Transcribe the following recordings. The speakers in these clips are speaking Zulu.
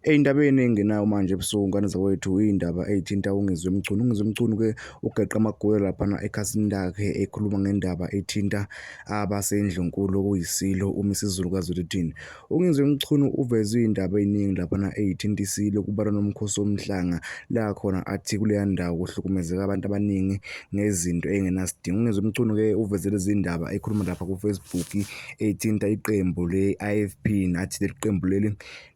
Eyi indaba eningi engenayo manje ebusuku ngane zakwethu iy'ndaba ey'thinta uNgizwe Mchunu. UNgizwe Mchunu-ke ugeqe amagunya laphana ekhasini lakhe ekhuluma ngendaba ethinta abasendlunkulu okuyisilo uMisizulu kaZwelithini. UNgizwe Mchunu uveze iy'ndaba ey'ningi laphana ey'thinta isilo kubalwa nomkhosi womhlanga la khona athi kuleya ndawo kuhlukumezeka abantu abaningi ngezinto ey'ngenasidingo. UNgizwe Mchunu-ke uveze lezi ndaba ekhuluma lapha kufacebook ey'thinta iqembu le-I_F_P nathi leli qembu leli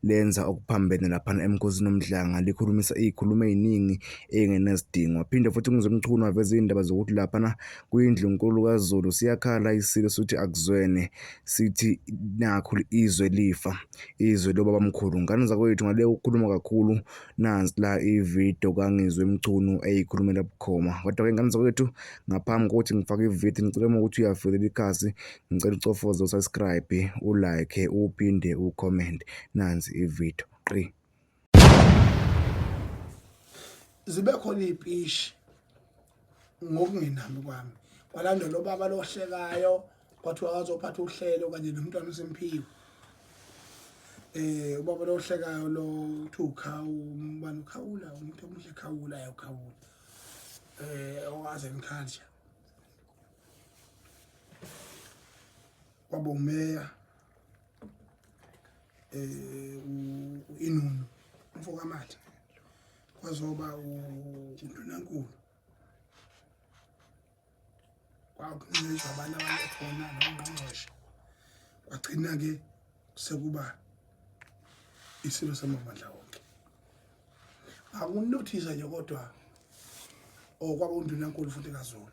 lenza okuphambene laphana eMkhosini uMdlanga likhulumisa iy'khuluma ey'ningi ey'ngenazidingo. Waphinde futhi uMnumzane uMchunu waveza iy'ndaba zokuthi laphana kuyindlunkulu kaZulu siyakhala isilo sithi akuzwene sithi nakhu izwe lifa izwe lobabamkhulu. Ngane zakwethu ngale ukukhuluma kakhulu nansi la ividiyo kaNgizwe Mchunu eyikhulumela bukhoma. Kodwa-ke ngane zakwethu ngaphambi kokuthi ngifake ividiyo ngicela uma ukuthi uyavelela ikhasi Ngicela ucofoze usubscribe, ulike, uphinde ucomment. Nansi ivideo. Qi. Zibe khona ipishi ngokungenami kwami. Kwalandela ubaba lohlekayo kwathiwa wazophatha uhlelo kanye nomntwana uSimphiwe. Eh ubaba lohlekayo lo uthi ukhawu umbani ukhawula umuntu omuhle khawula yakhawula. Eh owaze ngikhanja. kwaba umeya eh uInunu umfoka Matha kwazoba uNdunankulu kwakuncishwa abantu abakhona nongqongqoshe kwagcina ke sekuba isilo samabandla wonke akunothisa nje kodwa or oh, kwaba undunankulu futhi kazulu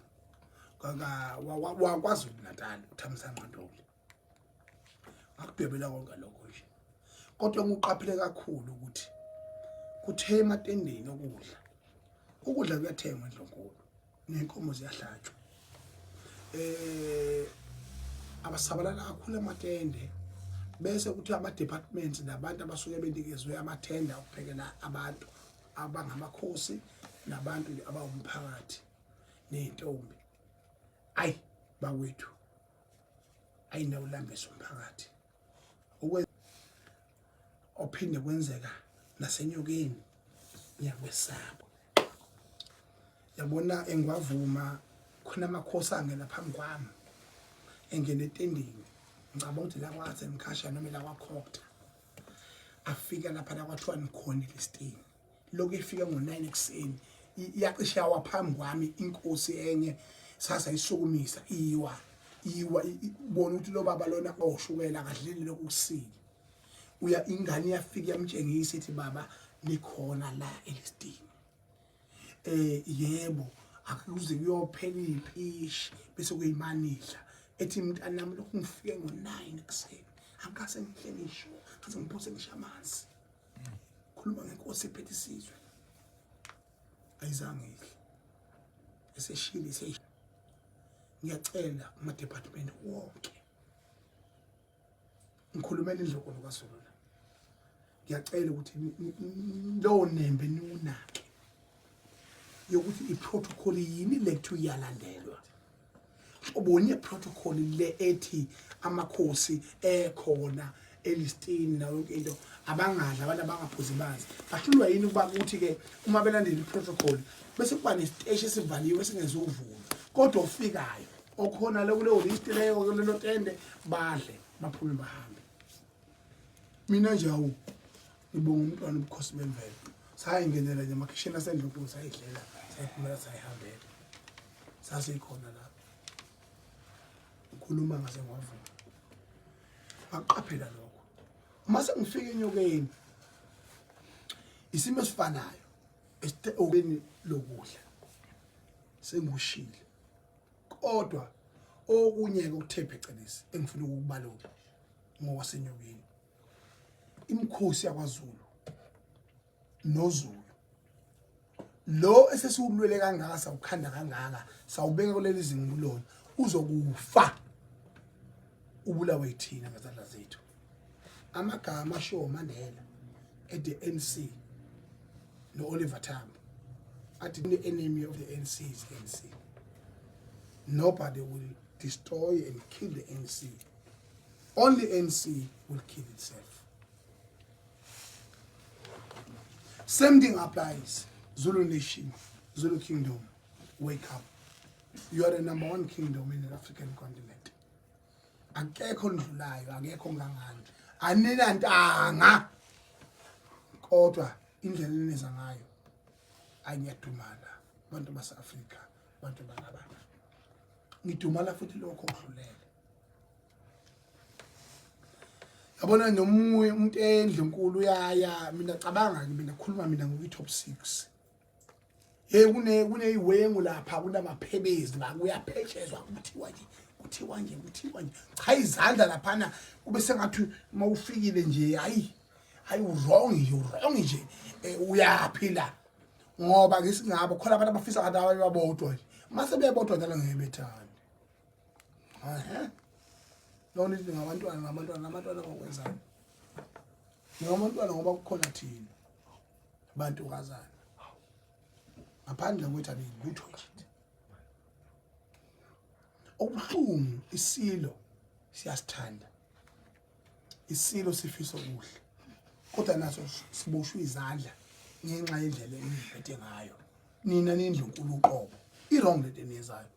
wakwazulu natal uthamisa nqandoli akudwebela konke lokho nje kodwa ngiqaphele kakhulu ukuthi kuthe ematendeni okudla ukudla kuyathengwa endlonkulu nenkomo ziyahlatshwa eh abasabalala kakhulu amatende bese kuthi ama departments nabantu abasuke benikezwe amathenda okuphekela abantu abangamakhosi nabantu abawumphakathi nezintombi ayi bakwethu ayinawulambisa umphakathi ophinde kwenzeka nasenyokeni ngiyakwesaba yabona engiwavuma khona amakhosi angena phambi kwami engene etendeni ngicabanga ukuthi la kwaze mkhasha noma la kwakhokta afika lapha la kwathiwa nikhona elistini lokhu ifike ngo-9 ekuseni iyacishe yawa phambi kwami inkosi enye sasa isukumisa iwa iwa bona ukuthi lo baba lona oshukela akadleli lokhu kusile uya ingane iyafika yamtshengisa ithi baba likhona la elistini eh yebo akuze kuyophela impishi bese kuyimanidla ethi mntanami lokhu ngifike ngo-9 ekuseni angikase ngihle ngisho ngaze ngiphose ngisho amanzi khuluma ngenkosi ephethe isizwe ayizange ihle eseshile eseshile ngiyacela amadepartment wonke ngikhulumela indloko lokwaZulu la ngiyacela ukuthi lowo nembe niwunake yokuthi i-protocol yini lethu iyalandelwa ubone protocol le ethi amakhosi ekhona elistini nayo yonke into abangadla abantu abangaphuzi manzi bahlulwa yini ukuba kuthi ke uma belandela iprotocol bese kuba nesiteshi esivaliwe esingezuvulwa kodwa ofikayo okhona le kuleyo list leyo kulelo tende badle baphume bahambe mina nje awu Ngibonga umntwana ubukhosi bemvelo. Sayingenela nje emakhishini asendlunkulu sayidlela, sayiphumela sayihambela. Sasikhona lapho. Ukhuluma ngaze ngwavuka. Ngaqaphela lokho. Uma sengifika enyokeni isimo esifanayo esithe okeni lokudla sengushile kodwa okunye-ke ukuthe phecelezi engifuna ukukubalula ngowasenyokeni imikhosi yakwaZulu noZulu lo esesiwulwele kangaka sawukhanda kangaka sawubeka kuleli zingulona uzokufa ubulawe yithina ngezandla zethu amagama ashiwo Mandela at the ANC no Oliver Tambo athi the enemy of the ANC is the ANC nobody will destroy and kill the ANC Only ANC will kill itself. Same thing applies. Zulu Nation, Zulu Kingdom, wake up. You are the number one kingdom in the African continent. Akekho ndlulayo, akekho ngangani. Anina ntanga. Kodwa indlela eneza ngayo anyadumala abantu base-Afrika, abantu bangabana. Ngidumala futhi lokho okudlulele. yabona nomunye umuntu endle nkulu uyaya mina cabanga ke mina khuluma mina ngokuyi top 6 hey kune kuneyiwengu lapha kunamaphebezi la kuyaphetshezwa kuthiwa nje kuthiwa nje kuthiwa nje cha izandla laphana kube sengathi uma ufikile nje hayi hayi wrong nje wrong nje eh, uyaphila ngoba ngisingabo khona abantu abafisa ngathi abanye babodwa nje mase bebodwa njalo ngeke bethanda Ehe. Lona ithi ngabantwana ngabantwana ngabantwana ngokwenzani? Ngabantwana ngoba kukhona thina. Bantu kazana. Ngaphandle kwethu abelutho nje. Okubuhlungu isilo siyasithanda. Isilo sifisa okuhle. Kodwa naso siboshwe izandla ngenxa yendlela eniphethe ngayo. Nina nindlunkulu uqobo. I wrong lento eniyenzayo.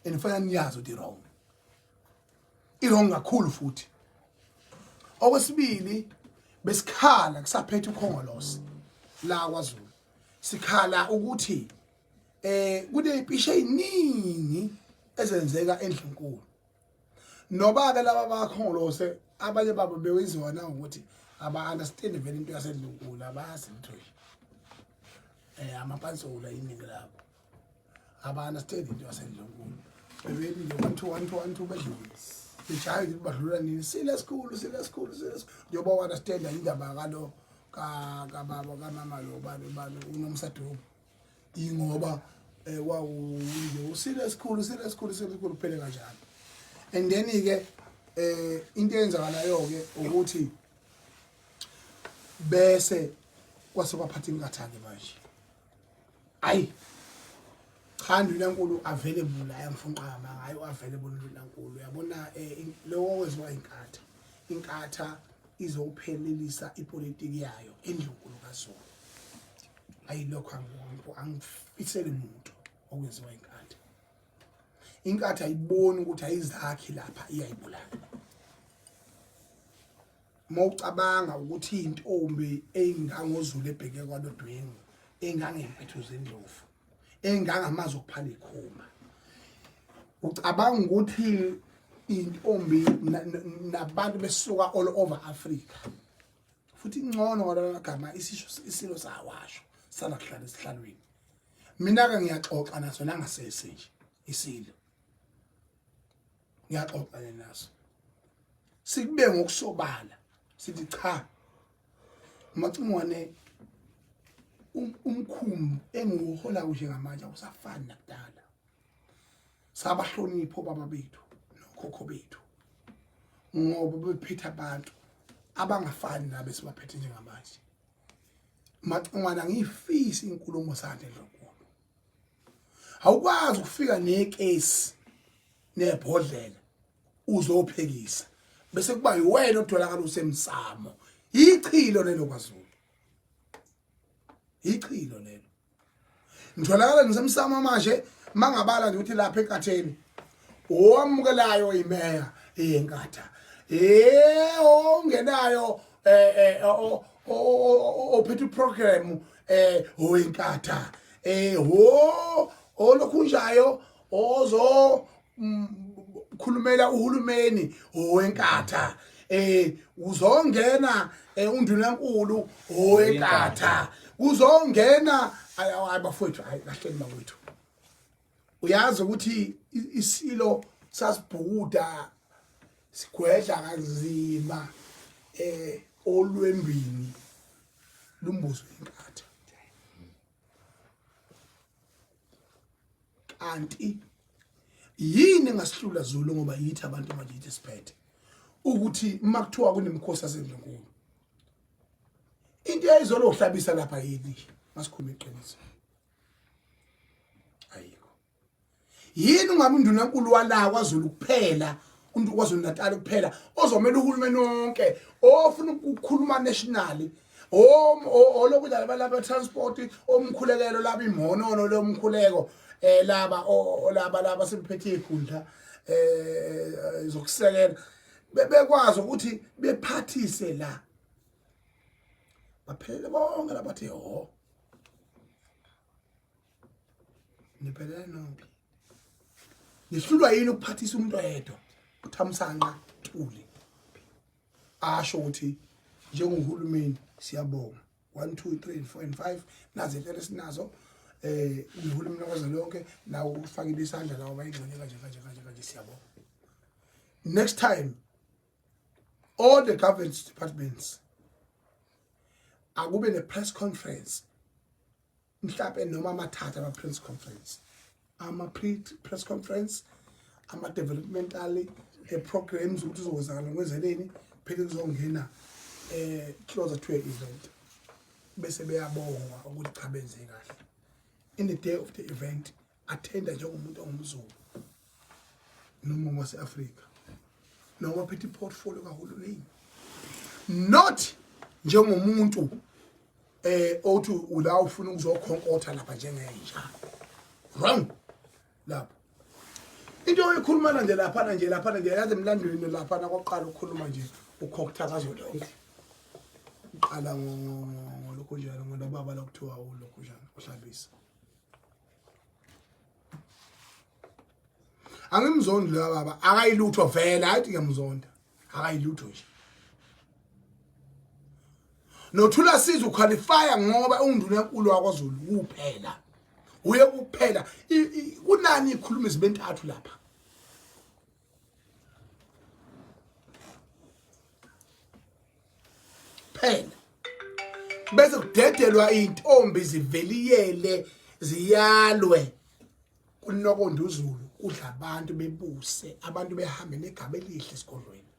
and fanele niyazi ukuthi wrong irong kakhulu futhi okwesibili besikhala kusaphethe ukhongolosi la kwaZulu sikhala ukuthi eh kunepishe eziningi ezenzeka endlunkulu noba ke laba bakhongolose abanye babo bewenziwa na ukuthi aba understand vele into yasedlunkulu abazi lutho eh amapansula iningi labo abana sithele into yasedlonkulu bebeli nje one two one two one two bedlule bejahe nje badlula nini sile sikhulu sile sikhulu sile sikhulu njengoba wana sithenda indaba kalo kababa kamama lo bani bani unomsadoko ingoba eh, wawunje usile sikhulu sile sikhulu sile sikhulu phele kanjalo and then ke eh into eyenzakalayo ke ukuthi bese kwase kwaphatha inkathane manje ayi cha ndinankulu available la emfunqama hayi available ndinankulu uyabona eh, lowo weziwa inkatha inkatha izophelelisa ipolitiki yayo endlunkulu kaZulu ayilokho angibongo angifisele muntu okwenziwa inkatha inkatha ayiboni ukuthi ayizakhi lapha iyayibulala uma ucabanga ukuthi intombi eyingangozulu ebheke kwalodwengu engangempethu zendlovu engangamazi okuphala ikhuma ucabanga ukuthi intombi nabantu besuka all over Africa futhi ingcono ngalagama isisho isilo sawasho sala kuhlala esihlalweni mina ke ngiyaxoxa naso nangasese nje isilo ngiyaxoxana naso sikube ngokusobala sithi cha umacingwane um, umkhumbi engiwuhola kuje ngamanje awusafani nakudala sabahlonipho baba bethu nokhokho bethu ngoba bephethe abantu abangafani nabe sibaphethe njengamanje macingwana ngiyifisa inkulumo sakhe lokho awukwazi ukufika nekesi nebhodlela uzophekisa bese kuba yiwena otholakala usemsamo ichilo lelo kwaZulu ichilo lelo ngitholakala ngisemsamo manje mangabala ngithi lapha enkatheni owamukelayo imeya eyenkatha eh ongenayo eh, eh ophethe uprogram eh oyinkatha eh ho olokhu njayo ozo mm, khulumela uhulumeni owenkatha eh uzongena eh, undunankulu owenkatha kuzongena ayi bafowethu ayi kahleni bakwethu uyazi ukuthi isilo sasibhukuda sigwedla kanzima eh olwembini lumbuzo inkatha kanti yini ngasihlula Zulu ngoba yithi abantu manje yithi siphethe ukuthi uma kuthiwa kunemkhosi asendlunkulu into eyayizolo uhlabisa lapha yini masikhuluma iqiniso ayikho yini ungabe undunankulu wala kwaZulu kuphela umuntu kwaZulu Natal kuphela ozomela uhulumeni wonke ofuna ukukhuluma nationally olokudlala balaba transport omkhulekelo laba imhonono lomkhuleko eh laba olaba laba sebephethe ikhundla eh zokusekela bebekwazi ukuthi bephathise la baphelele bonke labathi ho ngiphelele nophi ngihlulwa yini ukuphathisa umuntu oyedwa uthamsanqa thuli asho ukuthi njengohulumeni siyabonga 1 2 3 4 and 5 nazi impela sinazo eh uhulumeni lokwaze lonke nawo ufakile isandla lawo bayingxenye kanje kanje kanje kanje siyabonga next time all the government departments akube ne press conference mhlawumbe noma amathatha ama press conference ama press conference ama developmental e programs ukuthi uzozakala ngwezeleni phela kuzongena eh closer to an event bese beyabonga ukuthi cha benze kahle in the day of the event athenda njengomuntu ongumzulu noma wase-afrika noma phethe i-portfolio kahulumeni not njengomuntu eh othi ula ufuna ukuzokhonkotha lapha njengenja wrong lapha into oyikhuluma nje lapha nje lapha nje yazi emlandweni lapha nakoqala ukukhuluma nje ukhoktha kazo lonke uqala ngolokhu njalo ngolobaba lokuthiwa ulokhu njalo uhlabisa angimzondi loya baba akayilutho vele hayi ngiyamzonda akayilutho nje nothula siza uqualifya ngoba ungunduna enkulu wakwazulu kuphela uye kuphela kunani ikhuluma izinto entathu lapha kuphela bese kudedelwa intombi ziveliyele ziyalwe kunokonda uzulu kudla abantu bebuse abantu behambe negaba elihle esigodlweni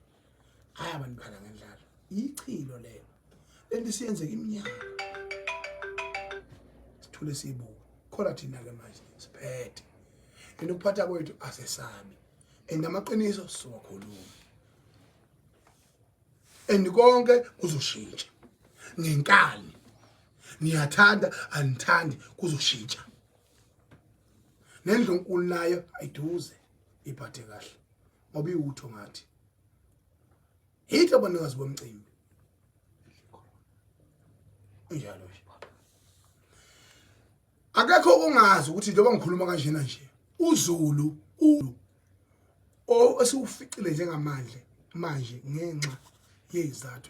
hayi abantu bhala ngendlala ichilo lelo lento siyenzeka iminyaka sithule sibuka khona thina ke manje siphethe and ukuphatha kwethu asesabi and amaqiniso siwakhuluma and konke kuzoshintsha ngenkani niyathanda anithandi kuzoshintsha nendlunkulu nayo ayiduze iphathe kahle ngoba iwutho ngathi yithi abanikazi bomcimbi unjalo nje akekho ongazi ukuthi njengoba ngikhuluma kanjena nje uzulu ulu esiwuficile njengamanje manje ngenxa yezathu